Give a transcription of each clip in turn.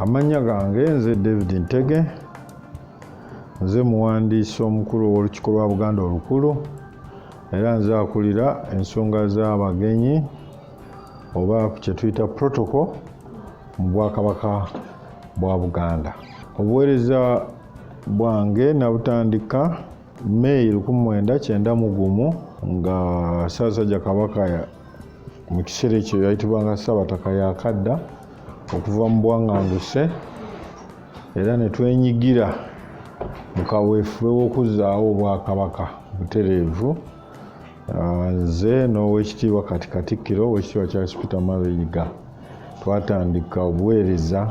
amannya gange nze david ntege nze muwandiisi omukulu ow'olukiiko lwa buganda olukulu era nze akulira ensonga z'abagenyi oba kyetuyita protocol mu bwakabaka bwa buganda obuweereza bwange nabutandika May lukumi mwenda kyenda mu gumu nga Ssaabasajja Kabaka mu kiseera ekyo yayitibwanga Ssaabataka yakadda okuva mu bwanganguse era ne twenyigira mu kaweefube w'okuzzaawo Obwakabaka butereevu ah, nze n'owekitiibwa kati Katikkiro owekitiibwa Charles Peter Mayiga twatandika obuweereza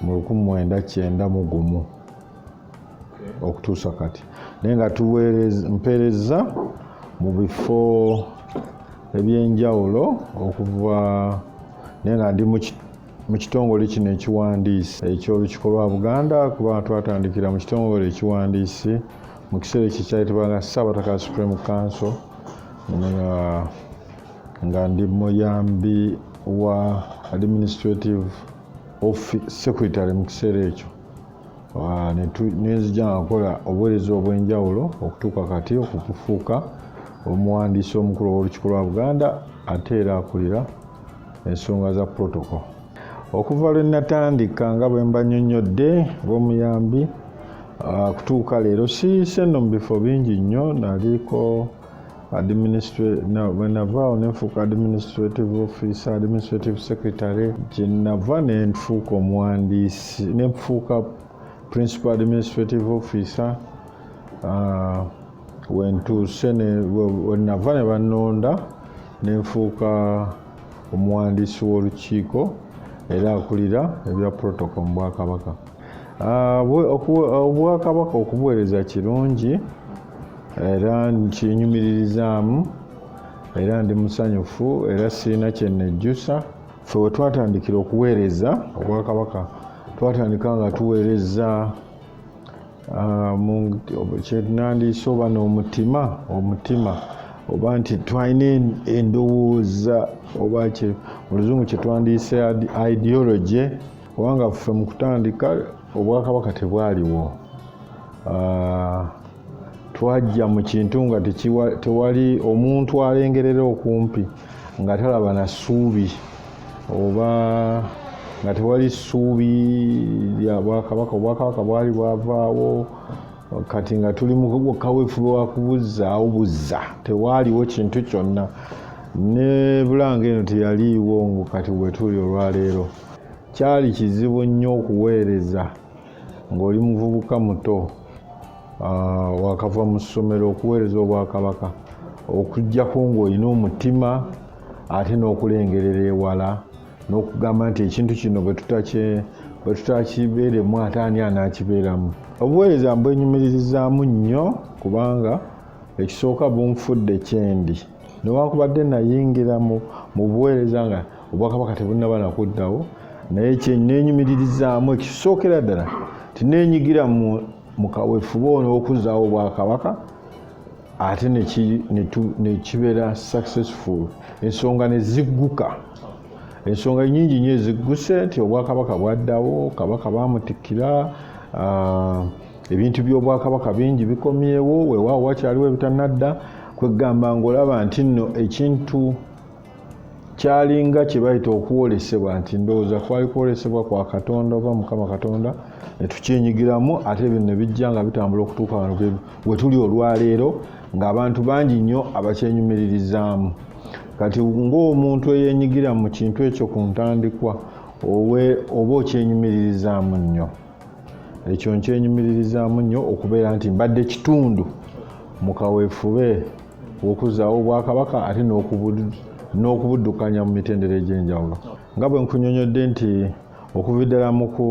mu lukumi mwenda kyenda mu gumu okutuusa kati naye nga mpeereza mu bifo ebyenjawulo okuva naye nga ndi mu kitongole kino ekiwandiisi eky'olukiiko lwa buganda kuba twatandikira mu kitongole ekiwandiisi mu kiseera ekyo kyayitibwanga saabataka supreme council nga ndi muyambi wa administrative secretary mu kiseera ekyo nenzija nga nkola obuweereza obw'enjawulo okutuuka kati okufuuka omuwandiisi omukulu ow'olukiiko lwa buganda ate era akulira ensonga za protoko okuva lwe natandika nga bwe mba nnyonnyodde ng'omuyambi ah, kutuuka leero siise nno mu bifo bingi nnyo naliko bwenavaawo nenfuuka administrative office administrative secretary kyenava nenfuuka omuwandiisi nenfuuka principal administrative officer ah, wentuuse wenava ne banonda nenfuuka omuwandiisi w'olukiiko era akulira ebya protocol mu bwakabaka obwakabaka okubuweereza kirungi era nkinyumiririzaamu era ndi musanyufu era sirina kyennejjusa fe we twatandikira okuweereza obwakabaka twatandika nga tuweereza ah, kyenandiisa oba n'omutima omutima oba nti twalina endowooza oba oluzungu kyetwandiise ideology kubanga ffe mu kutandika obwakabaka tebwaliwo ah, twajja mu kintu nga tewali omuntu alengerera okumpi nga talaba na ssuubi oba nga tewali ssuubi lya bwakabaka obwakabaka bwali bwavaawo kati nga tuli mu kaweefube wa kubuzzaawo buzza tewaaliwo kintu kyonna ne bulanga eno teyaliiwo ngu kati wetuli olwaleero kyali kizibu nnyo okuweereza ng'oli muvubuka muto ah, wakava mu ssomero okuweereza obwakabaka okujjako ng'olina omutima ate n'okulengerera ewala n'okugamba nti ekintu kino bwe tutakibeeremu ate ani anaakibeeramu obuweereza mbwenyumiririzaamu nnyo kubanga ekisooka bunfudde kyendi newankubadde nayingira mu buweereza nga obwakabaka tebunnaba nakuddawo naye kyeneenyumiririzaamu ekisookera ddala tineenyigira mu kaweefube ono okuzzaawo obwakabaka ate nekibeera successful ensonga nezigguka ensonga nyingi nyo ezigguse nti obwakabaka bwaddawo kabaka bamutikkira ah, ebintu by'obwakabaka bingi bikomyewo wewaawo wakyaliwo ebitanadda kwegamba ngaolaba nti nno ekintu kyalinga kye bayita okwolesebwa nti ndowooza kwali kwolesebwa kwa katonda oba mukama katonda netukyenyigiramu ate ebyo nebijja nga bitambula okutuuka wano wetuli olwaleero ngaabantu bangi nnyo abakyenyumiririzaamu kati ng'omuntu eyenyigira mu kintu ekyo ku ntandikwa oba okyenyumiririzaamu nnyo ekyo nkyenyumiririzaamu nnyo okubeera nti mbadde kitundu mu kaweefube w'okuzzaawo obwakabaka ate n'okubuddukanya mu mitendera egy'enjawulo nga bwe nkunyonyodde nti okuva ddala mu ku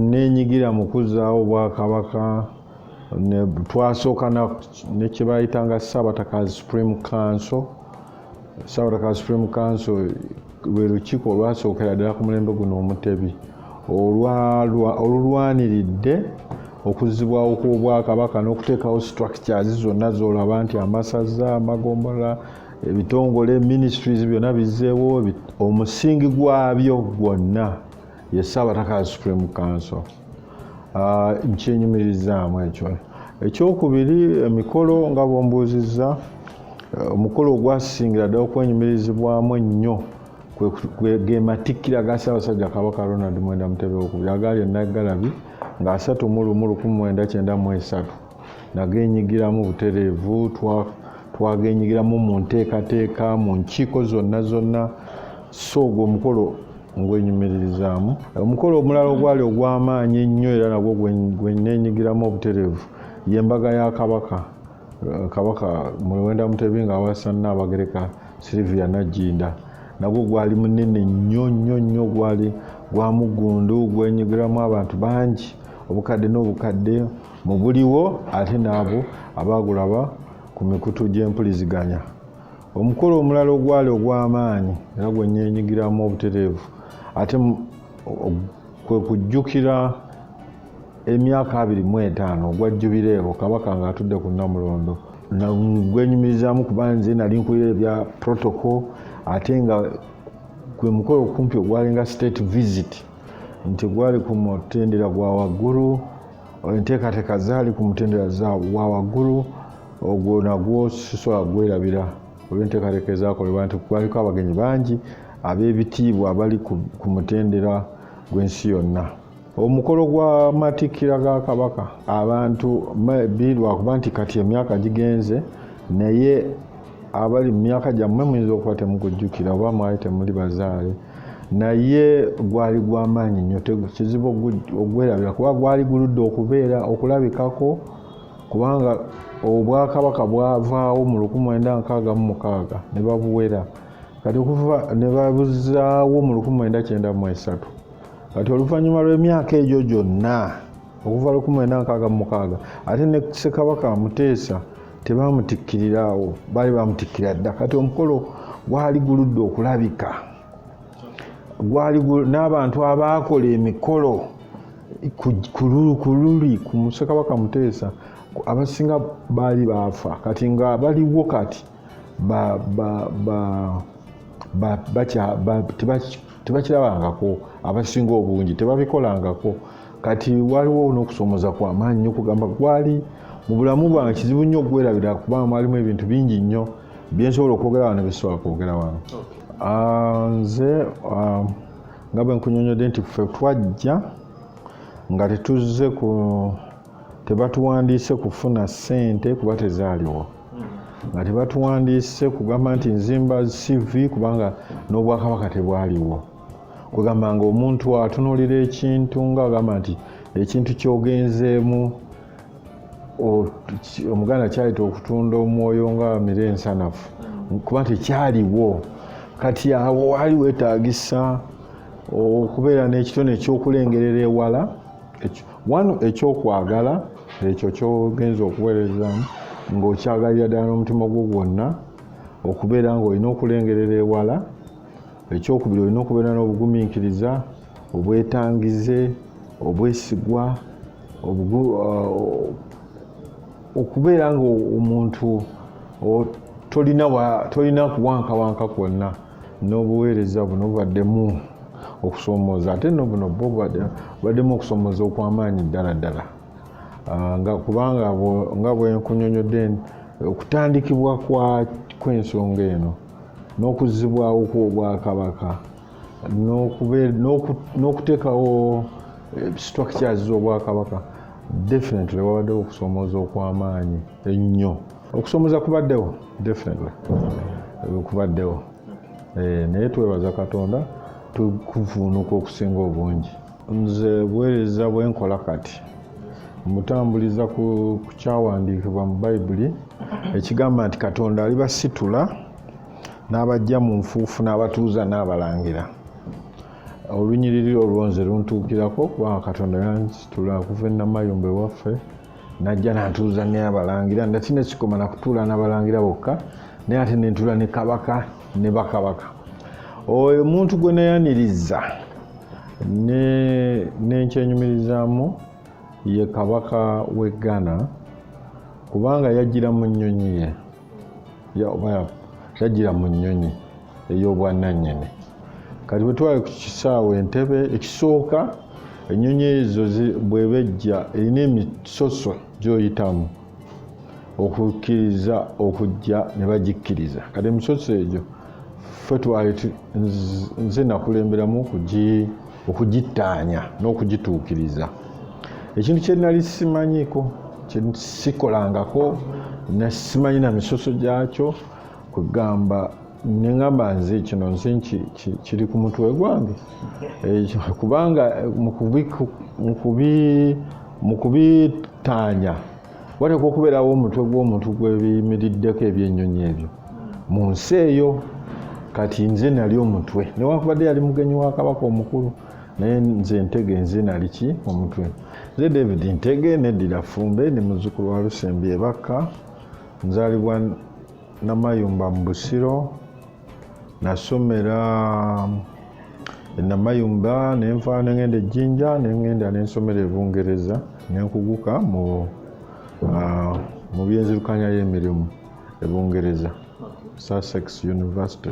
nenyigira mu kuzzaawo obwakabaka twasooka nekyebayitanga ssabatakazi supreme council Saura ka Supreme Council lwe lukiiko olwasookera ddala ku mulembe guno omutebi olulwaniridde okuzzibwawo kw'obwakabaka n'okuteekawo structures zonna z'olaba nti amasaza amagombolola ebitongole ministries byonna bizzeewo omusingi gwabyo gwonna ye ssaabataka ya supreme council ah, nkyenyumirizaamu ekyo ekyokubiri emikolo nga bwombuuzizza eh, omukolo ogwasingira ddala okwenyumirizibwamu ennyo gematikkira ga ssaabasajja kabaka ronald mwenda mutebe okubiri agaali enaggalabi nga asatu mu lumu lukumi mwenda kyenda mu esatu nagenyigiramu butereevu twagenyigiramu mu nteekateeka mu nkiiko zonna zonna so ogwo omukolo ngwenyumiririzaamu omukolo omulala ogwali ogw'amaanyi ennyo era nagwo gweneenyigiramu obutereevu ye mbaga ya kabaka eh, kabaka muwenda mutebi nga awasa nnaabagereka silivia najjinda nagwo gwali munene nnyo nnyo nnyo gwali gwa muggundu gwenyigiramu abantu bangi obukadde n'obukadde mu buliwo ate n'abo abaagulaba ku mikutu gy'empuliziganya omukolo omulala ogwali ogw'amaanyi era gwe nyenyigiramu obutereevu ate kwe kujjukira emyaka abiri mu etaano ogwa jubireewo kabaka ng'atudde ku namulondo gwenyumirizaamu kuba nze nali nkulira ebya protocol ate nga gwe mukolo okumpi ogwalinga state visit nti gwali ku mutendera gwa waggulu enteekateeka zaali ku mutendera wa waggulu ogwo nagwo sisobola kugwerabira olwenteekateeka ezakolebwa nti kwaliko abagenyi bangi ab'ebitiibwa abali ku mutendera gw'ensi yonna omukolo gwa matikkira ga kabaka abantu bi lwakuba nti kati emyaka gigenze naye abali mu myaka gyammwe muyinza okuba temukujjukira oba mwali temuli bazaale naye gwali gwamaanyi nnyo kizibu ogwerabira kuba gwali guludde okubeera okulabikako kubanga obwakabaka bwavaawo mu 1966 ne babuwera kati okuva ne babuzaawo mu 1993 kati oluvannyuma lw'emyaka egyo gyonna okuva 1966 ate ne ssekabaka amuteesa tebaamutikkirira awo baali baamutikkira dda kati omukolo gwali guludde okulabika gwali n'abantu abaakola emikolo kululi ku musekabaka muteesa abasinga baali baafa kati nga baliwo kati tebakirawangako abasinga obungi tebabikolangako kati waliwo n'okusoomoza kwa maanyi nyo kugamba gwali mu bulamu bwange kizibu nnyo okwerabira kuba mwalimu ebintu bingi nnyo byensobola okwogera wano byesobola kwogera wano ah, nze ah, nga bwe nkunyonyodde nti ffe twajja nga tetuzze ku tebatuwandiise kufuna ssente kuba tezaaliwo nga tebatuwandiise kugamba nti nzimba cv kubanga n'obwakabaka tebwaliwo kwegamba nga omuntu atunulira ekintu nga agamba nti ekintu kyogenzeemu omuganda kyayita okutunda omwoyo nga mire ensanafu kuba nti kyaliwo kati awo waali wetagisa okubeera n'ekitone ekyokulengerera ewala wano ekyokwagala ekyo kyogenza okuweerezamu ng'okyagalira ddala n'omutima gwo gwonna okubeera ng'olina okulengerera ewala ekyokubiri olina okubeera n'obugumiikiriza obwetangize obwesigwa uh, okubeera nga omuntu tolina kuwankawanka kwonna n'obuweereza buno bubaddemu okusomooza ate no buno bo bubaddemu okusomooza okw'amaanyi ddala ddala uh, nga kubanga nga bwenkunyonyodde okutandikibwa kw'ensonga eno n'okuzzibwawo kw'obwakabaka n'okuteekawo eh, structures z'obwakabaka definitely wabaddewo okusomooza okw'amaanyi ennyo okusomooza kubaddewo definitely eh, kubaddewo eh, naye twebaza katonda tukuvuunuka okusinga obungi nze buweereza bwe nkola kati mutambuliza ku kyawandiikibwa mu bayibuli ekigamba nti katonda alibasitula n'abajja mu nfuufu n'abatuuza n'abalangira olunyiriri olwo nze luntuukirako kubanga katonda yansitula okuva enamayumba ewaffe najja nantuuza ne abalangira ndati nekikoma nakutuula nabalangira bokka naye ate nentuula ne kabaka ne bakabaka oyo omuntu gwe nayaniriza nenkyenyumirizaamu ye kabaka w'e ghana kubanga yajjira mu nnyonyi ye kyajjira mu nnyonyi ey'obwannannyini kati bwe twali ku kisaawe entebe ekisooka ennyonyi ezo bweba ejja erina emisoso gyoyitamu okukkiriza okujja ne bagikkiriza kati emisoso egyo ffe twali nze nakulemberamu kugi okugittaanya n'okugituukiriza ekintu kye nali simanyiko kye sikolangako nasimanyi na misoso gyakyo kwegamba nengamba nze kino nze kiri ku mutwe gwange kubanga mu kubitaanya wateekwa okubeerawo omutwe gw'omuntu gwebiyimiriddeko ebyennyonyi ebyo mu nsi eyo kati nze nali omutwe newankubadde yali mugenyi wa kabaka omukulu naye nze ntege nze nali ki omutwe nze david ntege neddira fumbe ndi muzzukulu wa lusembi ebakka nzaalibwa namayumba mu busiro nasomera enamayumba nenva nengenda ejjinja nengenda nensomera ebungereza nenkuguka mu ah, mu byenzirukanya y'emirimu ebungereza sussex university